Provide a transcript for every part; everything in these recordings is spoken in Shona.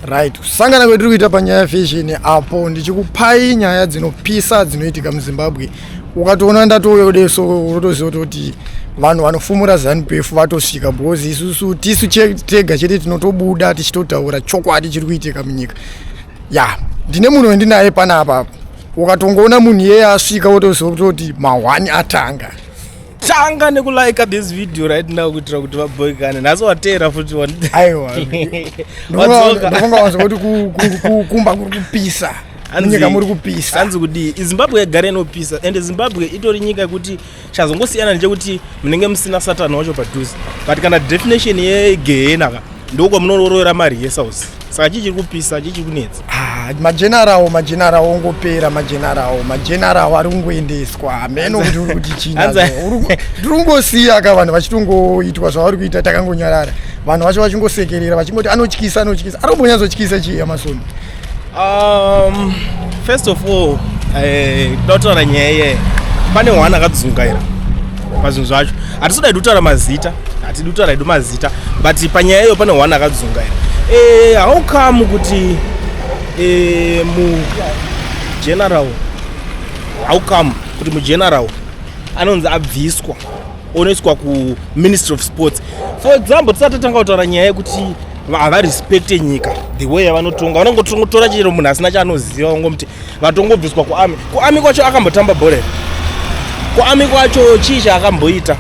right kusangana kwetiri kuita panyaya yefashion apo ndichikupai nyaya dzinopisa dzinoitika muzimbabwe ukatoona ndatouya kudai so unotoziva kuti vanhu vanofumura zanupf vatosvika because isusu tisu tega chete tinotobuda tichitotaura chokwadi chiri kuitika munyika ya yeah. ndine munhu wendinaye pana apapo ukatongoona munhu iyeye asvika wotoziva kutoti mahwani atanga tanga nekulike this video right now kuitira kuti vaboikane nhasi wateera futi aiwaaiwaunga wanza kuti kumba kuri kupisa nyika muri kupisa hanzi kudii izimbabwe yagara inopisa ende zimbabwe itori nyika yekuti chazongosiyana ndechekuti munenge musina satani wacho padhuze but kana definition yegehena ka ndiko munororovera mari yesausi saka chii chiri kupisa chii chiri kunetsa ah, majenarawo majenarawo ongopera majenarawo majenarawo ari kungoendeswa hameno kuti uri kuti chii tiri kungosiya ka vanhu vachitongoitwa zvavari kuita takangonyarara vanhu vacho vachingosekerera vachingoti anotyisa anotyisa ari kumbonyatsotyisa chii yamasoni Um, first of all eh, toda kutaura nyaya iye pane hwana akadzungaira pazvinhu zvacho hatisoda idi kutaura mazita hatidi kutaura idi mazita but panyaya iyo pane hwana akadzungaira eh, how come kuti eh, mu general how come kuti mugeneral anonzi abviswa onoiswa kuministry of sports for example tisati tatanga kutaura nyaya yekuti havarespecte nyika the way yavanotonga vanongotongotora chero munhu asina chaanoziva vangomuti vatongobviswa kuami kuami kwacho akambotamba bhora kuami kwacho chii chaakamboita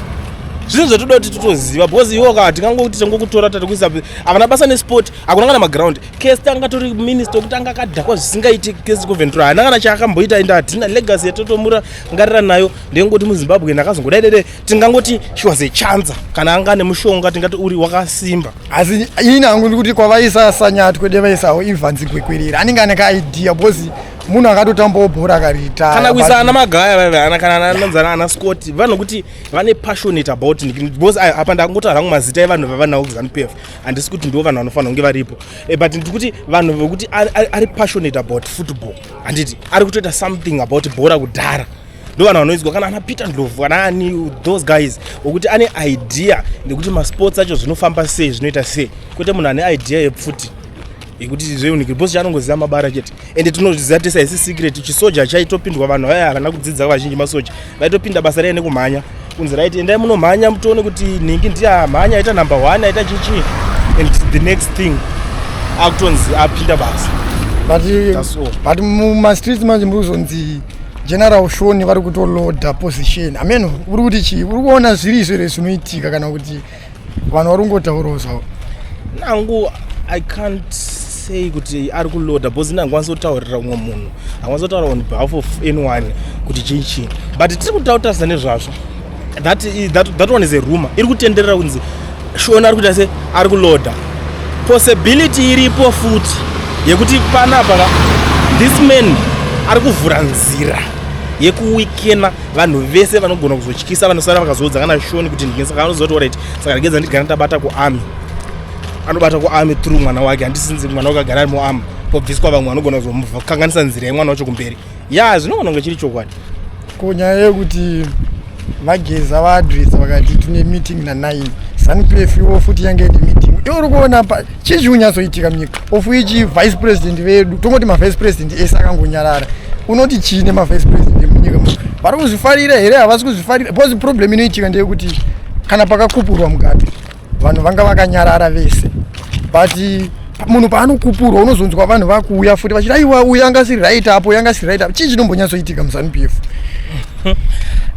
zvinhu zvatoda kuti titoziva because iwo ka tingangokuti tangokutora tatikuisa havana basa nesport hakuna kana maground kest anga tori minister okuti anga akadhakwa zvisingaiti kest coventura haana kana chaakamboita ende hatina legacy yatotomura ngarira nayo ndengoti muzimbabwe ndakazongodaidede tingangoti she was a chancer kana anga ane mushonga tingati uri wakasimba asi ini hangu ndikuti kwavaisa sanyatwe devaisawo evans gwekwirira anenge ane kaidea because munhu akatotambawo bhora akariita kana kuisa ana magaya vaivaana kana ananzana ana scott vanhu kuti vane passionate about because apa ndakungotaura hangu mazita evanhu vavanawo kuzanupf e handisi kuti ndivo vanhu vanofanira kunge varipo eh, but ndikuti vanhu vekuti ari passionate about football handiti ari kutoita something about bhora kudhara ndovanhu vanoidzwa kana ana peter ndlovu kana ani those guys okuti ane idea nekuti masports acho zvinofamba sei zvinoita sei kwete munhu ane idea yepfuti yekuti zveunikiri bcause chaanongoziva mabara chete ende tinozviziva tese haisi secret chisoja chaitopindwa vanhu vaya havana kudzidza vazhinji masoja vaitopinda basa riya nekumhanya kunzi rit endai munomhanya mutoone kuti nhingi ndiye amhanya aita number one aita chichii and the next thing akutonzi apinda basa but mumastreets manje muri kuzonzi general shoni vari kutoloda position amen uri kuti chii uri kuona zviri izvo here zvinoitika kana kuti vanhu vari kungotaurawo zvavo nangu i can't say kuti ari kuloda bcause nangu kwanisa kutaurira umwe munhu akwanisa kutaura on behalf of anyone kuti chii chii but tiri kutautaza nezvazvo that, that, that one is a rumor iri kutenderera kunzi shona ari kuita se ari kuloda possibility iripo futi yekuti panapa this man ari kuvhura nzira yekuwikena vanhu vese vanogona kuzotyisa vanosara vakazoudza kana shoni kuti ndinge saka anozoti orit saka ndingeza ndigana tabata kuarmy anobata kuarmy through mwana wake handisinzi mwana wake agara ari muarmy pobviswa vamwe vanogona kuzokanganisa nzira yemwana wacho kumberi ya zvinogona kunge chiri chokwadi ko nyaya yekuti vageza vaadresa vakati tine meeting nanine zanupf iwo futi yange ine meeting iwo uri kuona pa chii chiri kunyatsoitika munyika ofu ichi vice president vedu tongoti mavice president ese akangonyarara unoti chii nemavice president emunyika mu vari kuzvifarira here havasi kuzvifarira because problem inoitika ndeyekuti kana pakakupurwa mugabe vanhu vanga vakanyarara vese but munhu paanokupurwa unozonzwa vanhu vakuuya futi vachiti aiwa uyu anga siri right apo yanga siri right apo chii chinombonyatsoitika muzanup f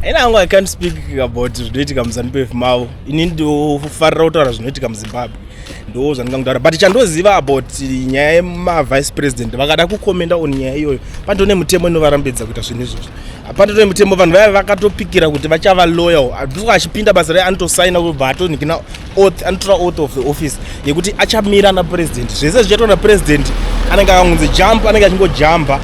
ina angu i can't speak about zvinoitika muzanup f mavo ini ndofarira kutaura zvinoitika muzimbabwe ndo zvandingangutaura but chandoziva about nyaya yemavice president vakada kukomenda on nyaya iyoyo pandone mutemo inovarambidza kuita zvinhu izvozvo hapana tone mutemo vanhu vaive vakatopikira kuti vachava loyal before achipinda basa raye anotosaina kubva atonikina oath anotora oath of the office yekuti achamira ana president zvese zvichaitwa na president anenge akangunzi jump anenge achingojamba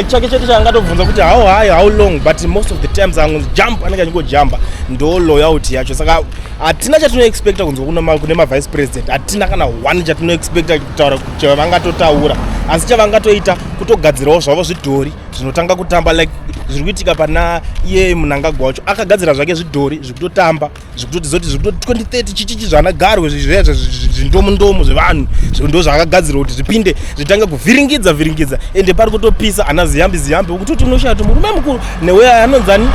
chake chete chaangatobvunza kuti how high how long but most of the times angonzi jump anenge achingojamba ndo loyalty yacho saka hatina chatinoexpecta kunzwa kune mavice president hatina kana one chatinoexpecta kutaura chavangatotaura asi chavangatoita kutogadzirawo zvavo zvidhori zvinotanga kutamba like zviri kuitika pana iye munangagwa wacho akagadzira zvake zvidhori zvikutotamba zvikutotizoti zvikuto 2030 chichichi zvana garwe zvezvo zvindomundomo zvevanhu ndo zvaakagadzira kuti zvipinde zvitange kuvhiringidza vhiringidza ende pari kutopisa ana ziyambi ziyambi ukutoti unoshaya kuti murume mukuru newe anonzani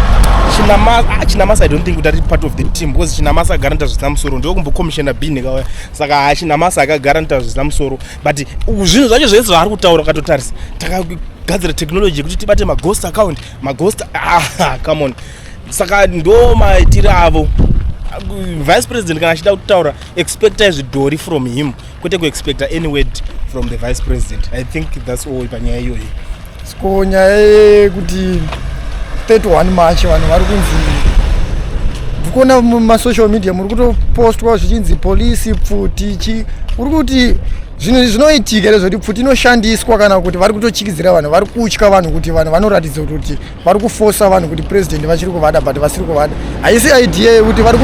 ah, chinamasa i don't think kuti ari part of the team because chinamasa agara nita zvisina musoro ndokumbokomishena bin kawaya saka chinamasa akagara nita zvisina musoro but zvinhu zvacho zvese zvaari kutaura ukatotarisa takagadzira technology yekuti tibate maghost account maghost ah, come on saka ndo maitire avo vice president kana achida kutaura expecta zvidhori from him kwete kuexpecta any word from the vice president i think thats all panyaya iyoyi Ko nyaya yekuti 31 March vanhu vari kunzi ndikuona mumasocial media muri kutopostwa zvichinzi polisi pfuti chi uri kuti zvinhu zvinoitika here zvekuti pfuti inoshandiswa kana kuti vari kutotyikidzira vanhu vari kutya vanhu kuti vanhu vanoratidza kuti vari kufosa vanhu kuti president vachiri kuvada but vasiri kuvada haisi idea yekuti vari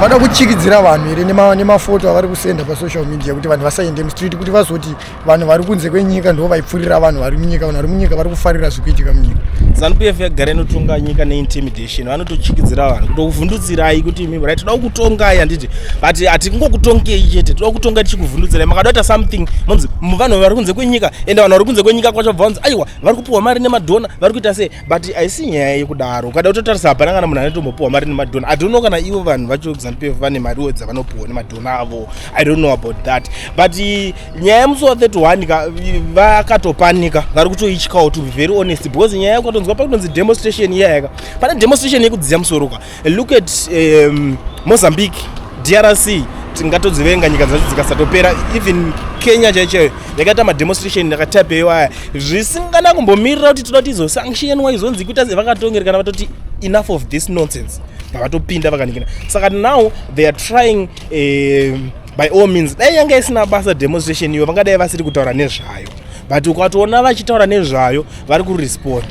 vada kutyikidzira vanhu here nemafoto avari kusenda pasocial media kuti vanhu vasaende mustreet kuti vazoti vanhu vari kunze kwenyika ndo vaipfurira vanhu vari munyika vanhu vari munyika vari kufarira zviri kuitika munyika zanup f yagara inotonga nyika neintimidation vanotochikidzira vanhu kutokuvhundutsirai kuti imi brai toda kukutongai handiti but hatingokutongei chete toda kukutonga tichikuvhundutsirai makatoita something monzi vanhu vari kunze kwenyika ende vanhu vari kunze kwenyika kwacho bvanzi aiwa vari kupiwa mari nemadhona vari kuita sei but haisi nyaya yekudaro ukada kutotarisa hapana kana munhu anotombopiwa mari nemadhona i don't know kana ivo vanhu vacho zanupf vane mariwo dzavanopiwa nemadhona avo i don't know about that but eh, nyaya yemusi wa 31 ka eh, vakatopanika vari kutoityawo to be very honest because nyaya yakutonzwa pakutonzi demonstration iyayaka pane demonstration yekudziya musoro ka Look at um, Mozambique, DRC tingatodzivenga nyika dzacho dzikasatopera even kenya chaicho yakaita mademonstration yakatapeyo aya zvisingana kumbomirira kuti toda kuti izosanctionwa izonzi kuita sevakatongerekana vatoti enough of this nonsense pavatopinda vakanikina saka now they are trying uh, by all means dai yanga isina basa demonstration iyo vangadai vasiri kutaura nezvayo but ukatoona vachitaura nezvayo vari kuresponda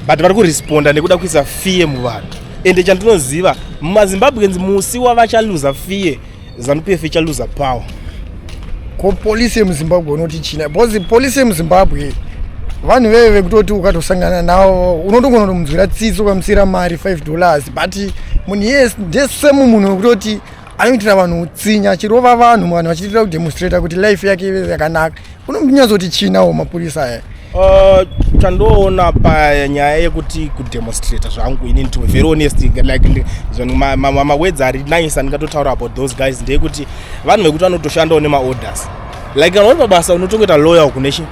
but vari kuresponda nekuda kuisa fear muvanhu ende chandinoziva mumazimbabweans musi wavachaluza fear zanup f ichaluza power ko polisi yemuzimbabwe unoti china because polisi yemuzimbabwe vanhu veve vekutoti ukatosangana navo unotogona kutomunzwira tsitsi ukamusiyira mari 5 dollars but munhu yes ndesemu munhu wekutoti anoitira vanhu utsinye achirova vanhu vanhu vachiitira kudemonstrata kuti life yake ive yakanaka unonyatsoti chinawo mapurisa aya uh, tandoona panyaya yekuti kudemonstrata zvangu ini to very honest like mawedzi ari nice andingatotaura about those guys ndeyekuti vanhu vekuti vanotoshandawo nemaorders like kana uri pabasa unotongoita lawyer kune chi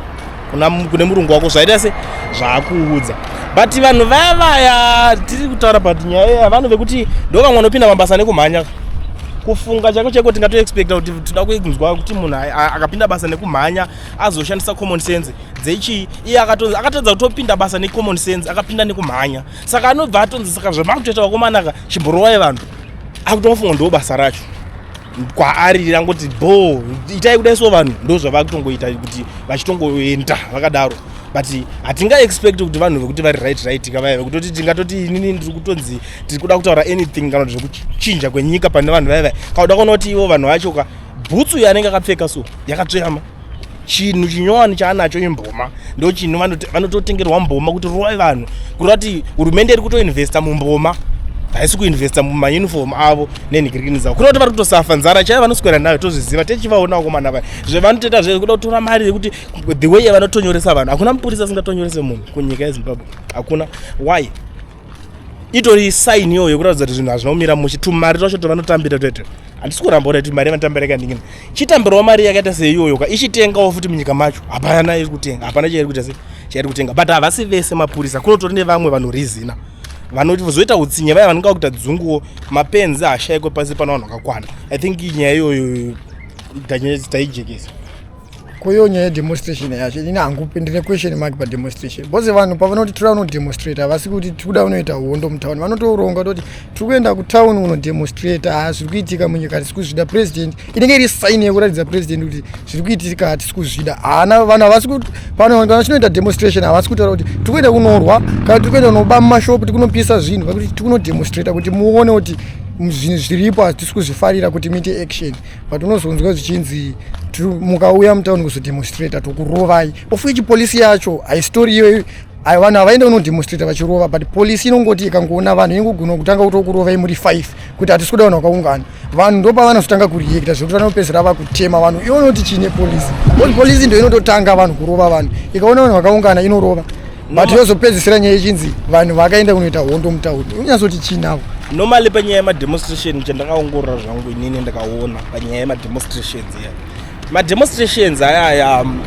kune murungu wako zvaita se zvaakuudza but vanhu vaya vaya tiri kutaura but nyaya iya vanhu vekuti ndo vamwe vanopinda mabasa nekumhanya kufunga chako cheko tingatoexpecta kuti tida kunzwa kuti munhu akapinda basa nekumhanya azoshandisa common sense dzechii iye akatadza kutopinda basa necommon sense akapinda nekumhanya saka anobva atonzi saka zvamakutoita vakomanaka chimborowaye vanhu akutomafunga ndo basa racho kwaari rangoti bho itai kudai so vanhu ndo zvava kutongoita kuti vachitongoenda vakadaro but hatinga expect kuti vanhu vekuti vari right right ka vaiva kutoti tingatoti inini ndiri kutonzi tiri kuda kutaura anything kana kuti zvekuchinja kwenyika pane vanhu vaiva kauda kuona kuti ivo vanhu vacho ka bhutsu yanenge akapfeka so yakatsveyama chinhu chinyowani chaanacho imboma ndo chinhu vanototengerwa mboma kuti rova vanhu kureva kuti hurumende iri kutoinvesta mumboma haisi kuinvesta mumauniform avo nenhikirikini dzavo kureva kuti vari kutosafa nzara chaiyo vanoswera nayo tozviziva techivaonawo komana vaya zvevanotoita zve kuda kutora mari yekuti the way yavanotonyoresa vanhu hakuna mupurisa asingatonyorese munhu kunyika yezimbabwe hakuna why itori sign iyoyo yekuratidza kuti zvinhu hazvina kumira mushe tumari twacho tovanotambira toito handisi kuramba kuti mari vanotambira kandingina chitambirawo mari yakaita seiyoyo ka ichitengawo futi munyika macho hapana iri kutenga hapana chairi kuita se chairi kutenga but havasi vese mapurisa kunotori nevamwe vanorizina vanozoita utsinye vaya vanonga kuita dzunguwo mapenzi hashaikwe pasi pano vanhu vakakwana i think nyaya iyoyo taijekesa koyo nyaya yedemonstration yacho ini hangu ndine question mark pademonstration bcause vanhu pavanoti tiri vanodemonstrate havasi kuti tiri kuda unoita hondo mutown vanotoronga toti tiri kuenda kutown unodemonstrate haa zviri kuitika munyika hatisi kuzvida president inenge iri sign yekuratidza president kuti zviri kuitika hatisi kuzvida haana vanhu havasi kuti vanhu vachinoita demonstration havasi kutaura kuti tiri kuenda kunorwa kana tiri kuenda kunoba mumashop tiri kunopisa zvinhu vakuti tiri kunodemonstrate kuti muone kuti zvinhu zviripo hatisi kuzvifarira kuti muite action but unozonzwa zvichinzi mukauya mutown kuzodemonstrata tokurovai of which polisi yacho haisitori iyoyo ayo vanhu havaende kunodemonstrata vachirova but polisi inongoti ikangoona vanhu inongogona kutanga kutokurovai muri five kuti hatisi kuda vanhu vakaungana vanhu ndopavanozotanga kureacta zvekuti vanopedzera vakutema vanhu ivo noti chii nepolisi polisi ndo inototanga vanhu kurova vanhu ikaona vanhu vakaungana inorova but yozopedzisira nyaya ichinzi vanhu vakaenda kunoita hondo mutaudi unyazoti chinavo normally panyaya yemademonstration chandakaongorora zvangu inini ndakaona panyaya yemademonstrations iya mademonstrations ayaya um,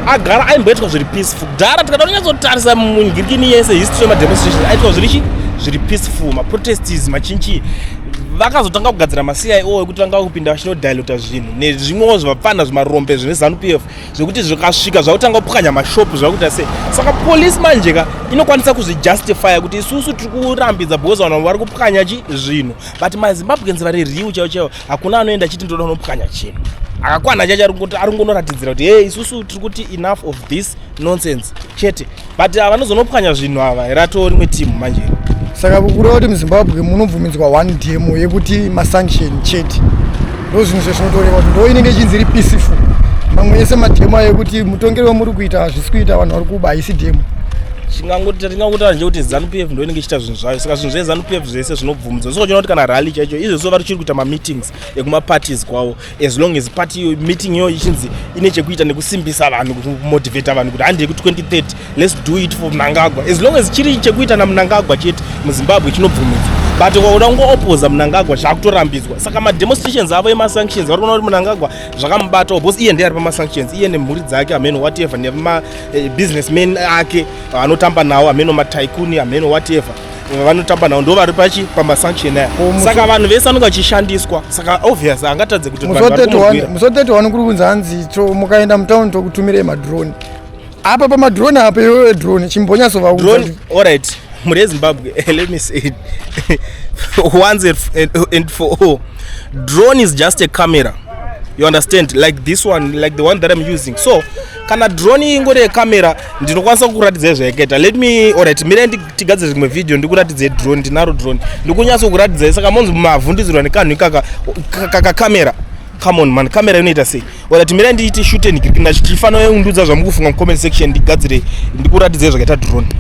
agara aimboitwa zviri peaceful kudhara tikada kunyatsotarisa mungirikini yese history yemademonstrations aitwa zviri chi zviri peaceful maprotestes machinchi vakazotanga kugadzira macia o ekuti vanga kupinda vachinodilota zvinhu nezvimwewo zvivapfanha zvimarombe zvine zanu p f zvekuti zvikasvika zvakutanga kupwanya mashopu zvakuita sei saka polisi manje ka inokwanisa kuzvijustifya kuti isusu tiri kurambidza because vanhu vari kupwanya chi zvinhu but mazimbabweans vari riu chaivo chaivo hakuna anoenda achiti ndoda unopwanya chinhu akakwana chacho ari kungonoratidzira kuti hey isusu tiri kuti enough of this nonsense chete but ah, vanozonopwanya zvinhu ava ratoo rimwe team manje saka kureva kuti muzimbabwe munobvumidzwa one demo yekuti masanction chete ndo zvinhu zvazvinotoreva kuti ndo inenge ichinzi iri peaceful mamwe ese mademo ayo ekuti mutongero wamuri kuita hazvisi kuita vanhu vari kuba haisi demo chingangoti tingangotara nje kuti zanu p f ndo inenge ichiita zvinhu zvayo saka zvinhu zvezanu p f zvese zvinobvumidzwa zvochona kuti kana rally chaicho izvozvo vari chiri kuita mameetings ekumaparties kwavo as long as party yo meeting yo ichinzi ine chekuita nekusimbisa vanhu kumotivata vanhu kuti handei ku2030 lets do it for mnangagwa as long as chiri chekuita namnangagwa chete muzimbabwe chinobvumidzwa but ukaoda kungoopoza mnangagwa zvakutorambidzwa saka mademonstrations avo emasanctions vari kuona kuti mnangagwa zvakamubatawo because iye ndiye ari pamasanctions iye nemhuri dzake ameno whatever nemabusiness eh, man ake anotamba nawo ameno mataikuni ameno whatever vanotamba navo ndo vari pachi pamasanction aya saka vanhu vese anonge achishandiswa saka obvious angatadze kuti musi 31 kuri kunzi hanzi to mukaenda mutown tokutumirei madrone apa pamadrone apa iwewe drone chimbonyasovaudrone allright mhuri yezimbabwe eh, let me say once and for all drone is just a camera you understand like this one like the one that i'm using so kana drone ingori yecamera ndinokwanisa kukuratidza zvaikaita let me orit mire tigadzire rimwe video ndikuratidze drone ndinaro drone ndikunyatso kuratidza saka monzi mavhundudzirwa nekanhu ikaka kakakamera kaka come on man camera inoita sei orit mira ndiite shute ndifanira undudza zvamukufunga mucomment section ndigadzire ndikuratidze zvakaita drone